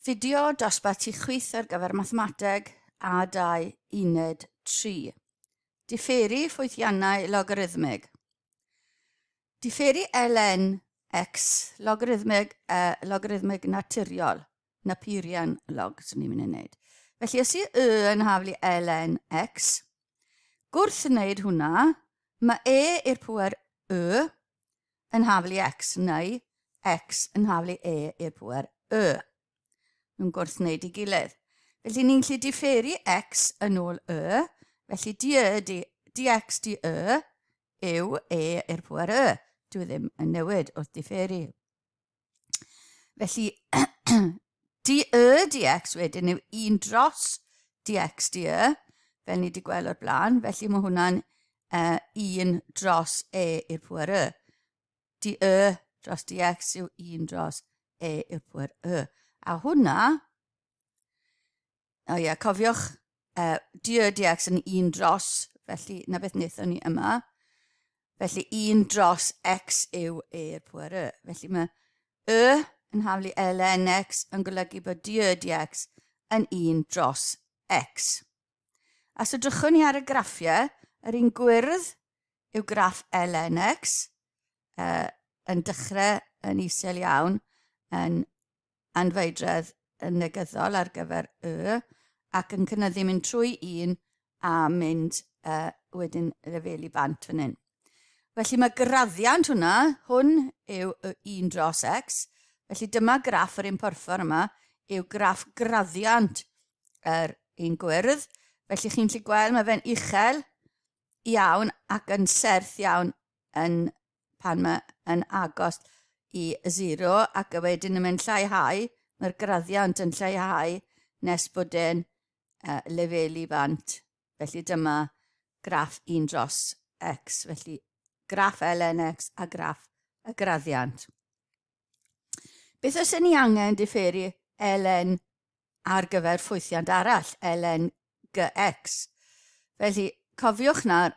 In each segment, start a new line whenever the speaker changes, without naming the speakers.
Fideo dosbarth ti chwith ar gyfer mathemateg a 2 uned 3. Diferu ffwythiannau logarithmig. Diferu ln x logarithmig, uh, logarithmig naturiol, Napierian log, swn i'n mynd i wneud. Felly os i y yn haflu ln x, gwrth wneud hwnna, mae e i'r pwer y yn haflu x neu x yn haflu e i'r pŵer y. Nhw'n gwrthwneud i gilydd. Felly ni'n gallu diferu x yn ôl y, felly dy e dy, dx dy e yw e i'r pŵer y. Dwi e ddim yn newid wrth diferu. Felly, dy y dx wedyn yw 1 dros dx dy y, fel ni wedi gweld o'r blaen. Felly mae hwnna'n uh, 1 dros e i'r pwer y. Dy y dros dx yw 1 dros e i'r pwer y. A hwnna O ie, cofiwch, uh, DRDX yn un dros, felly na beth wnaethon ni yma. Felly un dros X yw E i'r pwer Y. Felly mae Y yn haflu ln X yn golygu bod DRDX yn un dros X. A so drychwn ni ar y graffiau, yr un gwyrdd yw graff ln X, uh, yn dechrau yn isel iawn, yn anfeidredd yn negyddol ar gyfer y ac yn cynyddu mynd trwy un a mynd uh, wedyn lefelu bant fan hyn. Felly mae graddiant hwnna, hwn yw y 1 dros x, felly dyma graff yr un porffor yma, yw graff graddiant yr un gwyrdd, felly chi'n lli gweld mae fe'n uchel iawn ac yn serth iawn yn pan mae yn agos i zero ac wedyn yn mynd lleihau, mae'r graddiant yn lleihau nes bod e'n uh, lefelu fant. Felly dyma graff 1 dros x, felly graff ln x a graff y graddiant. Beth os ni angen diferu ln ar gyfer ffwythiant arall, ln gx? Felly, cofiwch nawr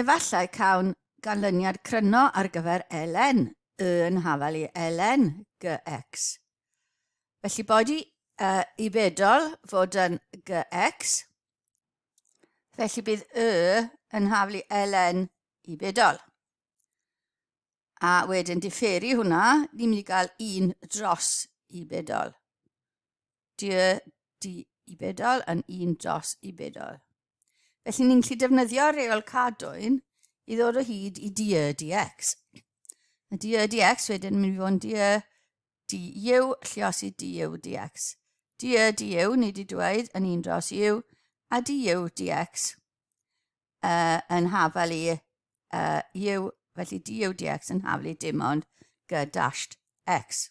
Efallai cawn ganlyniad cryno ar gyfer ln y yn hafal i ln gx. Felly boed i y i bedol fod yn gx, felly bydd y yn hafal i ln i bedol. A wedyn diferu hwnna, ni'n mynd i gael un dros i bedol. dy, dy i bedol yn un dros i bedol. Felly ni'n gallu defnyddio reol cadwyn i ddod o hyd i dy dx. Y dy dx wedyn mynd i fod yn dy dy yw llios i dy dx. Dy dy yw ni wedi dweud yn un dros yw a dy yw dx uh, yn hafel i uh, yw, felly dy yw dx yn hafel i dim ond g dashed x.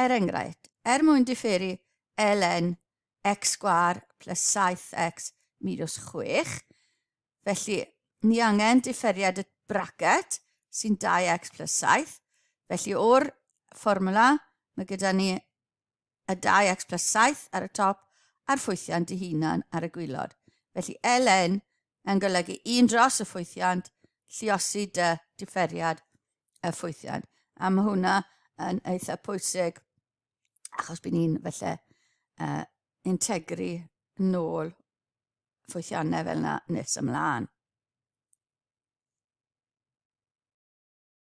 Er enghraifft, er mwyn diferu ln x sgwâr plus 7x minws 6, felly ni angen diferiad y bracet sy'n 2x plus 7, felly o'r fformwla mae gyda ni y 2x plus 7 ar y top a'r ffwythiant ei hunan ar y gwylod. Felly ln yn golygu 1 dros y ffwythiant, lliosi dy diferiad y ffwythiant. A mae hwnna yn eitha pwysig achos bydd ni'n felly uh, integru nôl ffwythiannau fel yna nes ymlaen.